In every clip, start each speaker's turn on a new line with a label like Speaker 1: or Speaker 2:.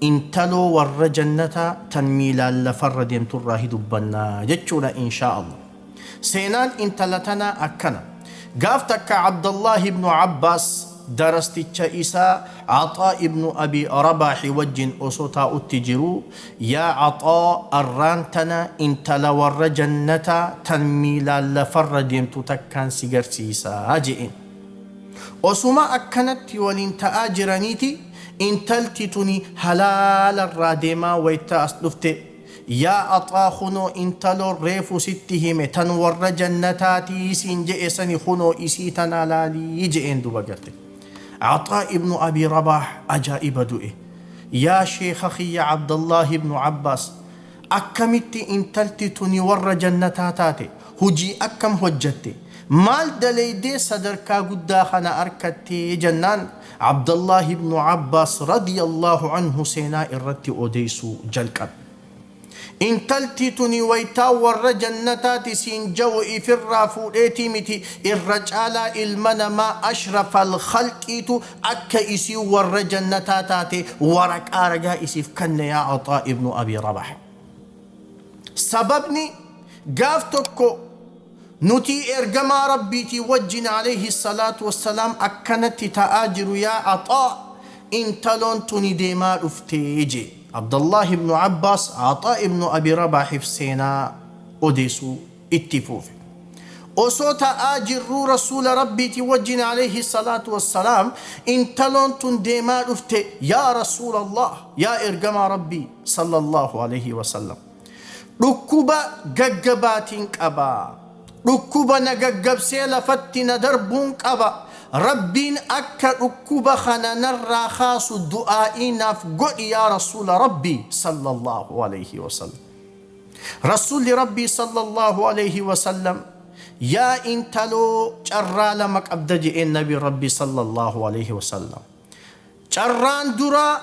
Speaker 1: Intaloo warra jannataa tan miilaan lafarra deemturraa hi dubbanna jechuudha inshaa Allah. Seenaan intala tanaa akkana. Gaaf takka Abdallaah ibnu Abbaas darasticha isaa Axaa ibnu Abii Rabaahi wajjin osoo taa'utti jiruu, Yaa Axaa arraan tana intala warra jannataa tan miilaan lafarra deemtu takkaan si garsiisaa je'een. Osuma akkanatti waliin ta'aa jiraniiti intalti tuni halaala irraa deemaa wayta as dhufte Yaa Axaa kunoo intaloon reefu sitti hime tan warra jannataati siin je'e sani kunoo isii tana laali je'een duuba garte. Axaa ibnu Abii Rabaah ajaa'iba du'e. Yaa sheekha kiyya Abdallaahi ibnu Abbaas akkamitti intalti tuni warra jannataa taate? hujii akkam hojjatte? maal daleeydee sadarkaa guddaa kana arkatte? jannaan Abdallaah ibnu Abbaas radiyallaahu anhu seenaa irratti odeeysuu jalqabe. intalti tuni waytaa warra jannataati siin ja'u ifirraa fuudheeti miti irra caalaa ilma namaa ashrafal khalqiitu akka isiin warra jannataa taate waraqaa ragaa isiif kanne yaa Axaa ibnu Abii Rabaah. Sababni gaaf tokko nuti ergamaa Rabbiitii wajjin alayhi salaatu wassalaam akkanatti ta'aa jiru yaa Axaa intaloon tuni deemaa dhufte jee. Abdallaah ibnu Abbaas Axaa ibnu Abi Rabaahiif seenaa odeesuu. itti fuufe. Osoo ta'aa jirruu Rasuula Rabbiitii wajjin Aleeyhi salaatu wassalaam intaloon tun deemaa dhufte Yaa Rasuulallaah Yaa Ergamaa Rabbii Sallallaahu Aleeyhi wasallam Dhukkuba gaggabaatiin qaba Dhukkuba na gaggabsee lafatti na darbuun qaba Rabbiin akka dhukkuba kana narraa kaasu du'aa'ii naaf godhi Yaa Rasuula Rabbii Sallallaahu Aleeyhi wasallam. Rassuulli Rabbii sallallaahu aleeyhi wasallam Yaa intaloo carraa lama qabda je'een Nabiin Rabbii sallallaahu aleeyhi wasallam. Carraan duraa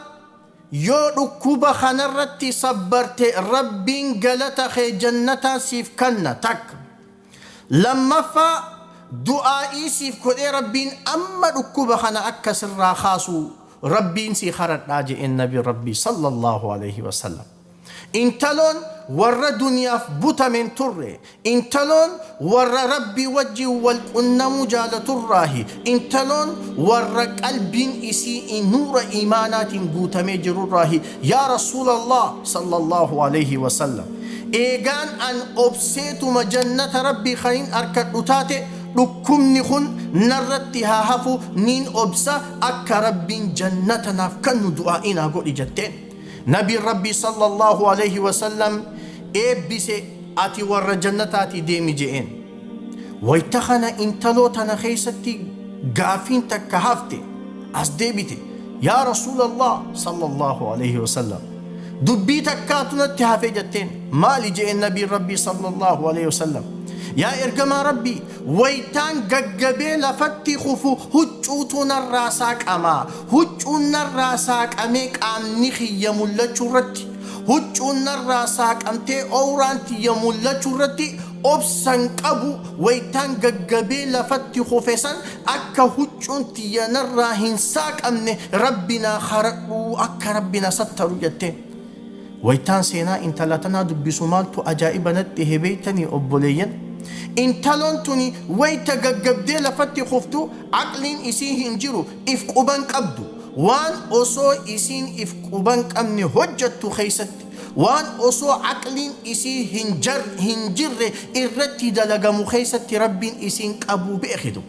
Speaker 1: yoo dhukkuba kanarratti sabbarte Rabbiin galata kee jannataan siif kanna takka. Lammaffaa du'aa'ii siif godhee Rabbiin amma dhukkuba kana akka sirraa kaasu Rabbiin sii kadhadhaa je'een Nabiin Rabbii sallallaahu aleeyhi wasallam. Intaloon warra duniyaaf butame hin turre. Intaloon warra Rabbii wajjiin wal qunnamuu jaalaturraahi. Intaloon warra qalbiin isi'ii nuura iimaanaatiin guutamee jirurraahi. Yaa Rasuulallaah, Sallallaahu aleyhi wa sallam, eegaan an obseetuma jannata Rabbii kanin arkadhu taate, dhukkubni kun narratti haa hafu, niin obsa, akka Rabbiin jannata naaf kannu du'aa'ii naa godhi jetteen. Nabiin Rabbii sallallaahu aleeyhi wasallam eebbise Ati warra jannataatii deemi je'een. Wayta kana intaloo tana keeysatti gaaffiin takka hafte, as deebite, Yaa Rasuulallaah sallallaahu aleeyhi wasallam! Dubbii takkaatu natti hafe jetteen. Maali je'een Nabiin Rabbii sallallaahu aleeyhi wasallam. Yaa Ergamaa Rabbii! Wayitaan gaggabee lafatti kufu huccuutu narraa saaqama. Huccuun narraa saaqamee qaamni kiyya mul'achuurratti, huccuun narraa saaqamtee owraan tiyya mul'achuurratti obsan qabu wayitaan gaggabee lafatti kufe san akka huccuun tiyya narraa hin saaqamne Rabbi naa karadhu akka Rabbi na sattaru jetteen. Waytaan seenaa intala tanaa dubbisu maaltu ajaa'iba natti tahe beeytanii obboleeyyan? Intaloon tuni wayta gaggabdee lafatti kuftu aqliin isii hin jiru, if quba hin qabdu. Waan osoo isiin if quba hin qabne hojjattu keeysatti, waan osoo aqliin isii hin hin jirre irratti dalagamu keeysatti Rabbiin isiin qabuu beekitu.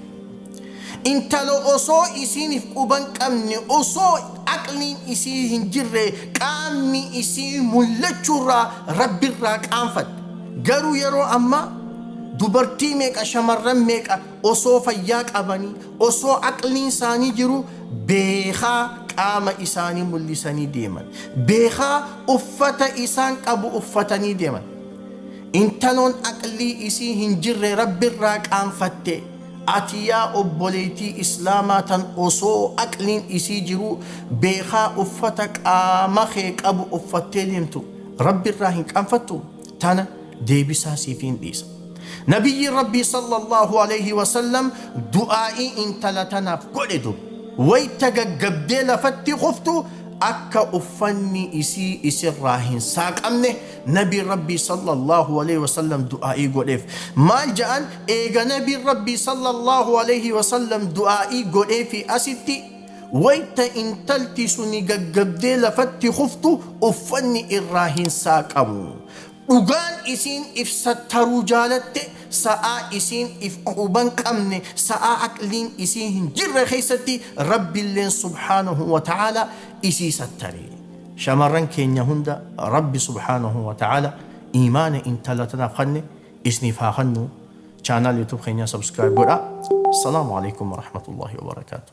Speaker 1: Intalo osoo isiinif quban qabne osoo aqliin isii hin jirre qaamni isii mullachurraa rabbirraa qaanfatte garuu yeroo ammaa dubartii meeqa shamarran meeqa osoo fayyaa qabanii osoo aqliin isaanii jiruu beekaa qaama isaanii mullisanii deeman beekaa uffata isaan qabu uffatanii deeman intaloon aqlii isii hin jirre rabbirraa qaanfatte Ati yaa obboleeytii islaamaa tan osoo aqliin isii jiruu beekaa uffata qaama kee qabu uffattee deemtu Rabbi irraa hin qaanfattuu? Tana deebisaa siifiin dhiisa. Nabiyyiin Rabbii sallallaahu aleeyhi wasallam du'aa'ii intala tanaaf godhe dur. Wayta gaggabdee lafatti kuftu akka uffanni isii isirraa hin saaqamne Nabiin Rabbii sallallaahu aleeyhi wasallam du'aa'ii godheef. Maal ja'an? Eega Nabiin Rabbii sallallaahu aleeyhi wasallam du'aa'ii godheefii asitti wayta intalti suni gaggabdee lafatti kuftu uffanni irraa hin saaqamu. Dhugaan isiin if sattaruu jaalatte sa'aa isiin if quban qabne, sa'aa aqliin isii hin jirre keessatti Rabbilleen subhaanahu wa ta'aalaa isii sattare. Shamarran keenya hunda rabbi subhaanahu wa ta'aala iimaana intala tanaaf kanne isniif haa kannu channel youtube keenyaa subscribe godhaa. Assalaamu aleykum warahmatullaahi wabarakaatuh.